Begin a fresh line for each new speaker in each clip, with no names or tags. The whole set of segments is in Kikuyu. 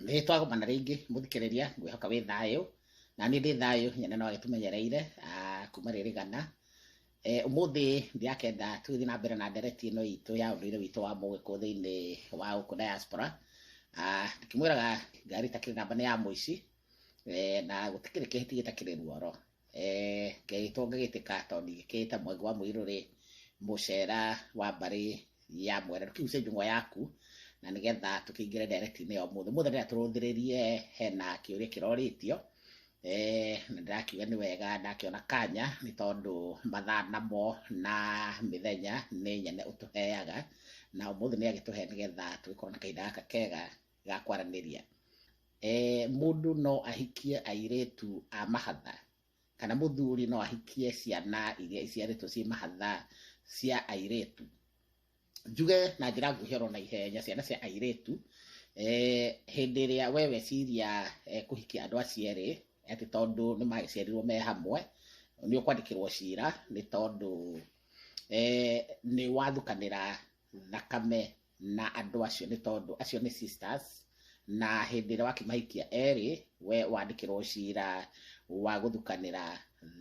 nĩ twagomana rĩngĩ mũthikĩrĩria ngwĩhoka wĩ thayũ na niĩ ndĩ thayũ nyene no agĩtũmenyereire ah, kuma rĩrĩ gana Eh, ũmũthĩ ndirakenda tũgĩthiĩ na mbere na ndereti ĩno itũ ya ũndũire witũ wa mũgĩkũ thĩinĩ wa gũkũ diaspora Ah, ndĩkĩmwĩraga ngari itakĩrĩ namba nĩ ya mũici eh, na gũtikĩrĩ kĩhĩti gĩtakĩrĩ ruoro eh, ngagĩtwo ngagĩtĩka tondũ ngĩkĩĩte mwenge wa mũirũ rĩ mũcera wa mbarĩ ya mwere ndũkĩguce njũng'wa yaku na nĩgetha tũkĩingĩre ndereti-inĩ ya ũmũthĩ ũmũthĩ rĩrĩa tũrũthĩrĩrie hena kĩũria kĩrorĩtio eh, na ndĩrakiuga nĩ wega ndakĩona kanya nĩ tondũ mathaa namo na mĩthenya nĩ nyene ũtũheaga na ũmũthĩ nĩ agĩtũhe nĩgetha tũgĩkorwo na kahinda gaka kega ga kwaranĩria. Mũndũ no ahikie airĩtu a mahatha, kana mũthuri no ahikie ciana iria iciarĩtwo ciĩ mahatha cia airĩtu. Njuge na njĩra nguhĩ oro na ihenya ciana cia airĩtu, hĩndĩ ĩrĩa we weciria kũhikia andũ acio erĩ atĩ tondũ nĩ magĩciarirwo me hamwe, nĩ ũkwandĩkĩrwo cira nĩ tondũ nĩ wathukanĩra thakame na andũ acio nĩ tondũ acio nĩ sisters na hĩndĩ ĩrĩa wakĩmahikia erĩ we wandĩkĩrwo cira wa gũthukanĩra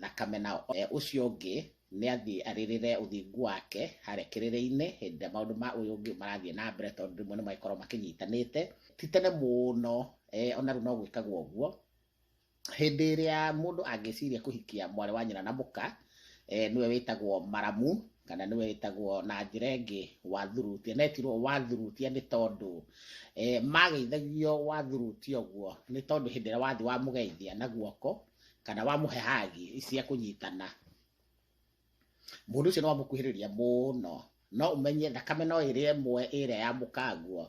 thakame nao E, ũcio ũngĩ nĩ athiĩ arĩrĩre ũthingu wake harĩa kĩrĩrĩ-inĩ hĩndĩ ĩrĩa maũndũ ma ũyũ ũngĩ marathiĩ na mbere tondũ rĩmwe nĩ magĩkorwo makĩnyitanĩte ti tene mũno e, ona rĩu no gwĩkagwo ũguo Hĩndĩ ĩrĩa mũndũ angĩciria kũhikia mwarĩ wa nyina na mũka, eh, nĩwe wĩtagwo maramu, kana nĩwe wĩtagwo na njĩra ĩngĩ wathurutia. Na etirwo wathurutia nĩ tondũ eh, mageithagio wathurutia ũguo, nĩ tondũ hĩndĩ ĩrĩa wathiĩ wamũgeithia na guoko, kana wamũhe hagi cia kũnyitana, mũndũ ũcio nĩ wamũkuhĩrĩria mũno no ũmenye thakame no ĩrĩa ĩmwe ĩrĩa yamũkangwo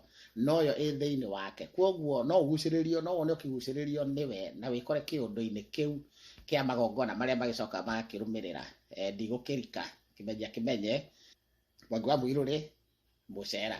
noyo ĩ thĩinĩ wake kwoguo no ũgucĩrĩrio no wone ũkĩgucĩrĩrio nĩwe na wĩkore kĩũndũ-inĩ kĩu kĩa magongona marĩa magĩcoka magakĩrũmĩrĩra Eh, ndigũkĩrika kĩmenya kĩmenye mwangi wa mũirũrĩ mũcera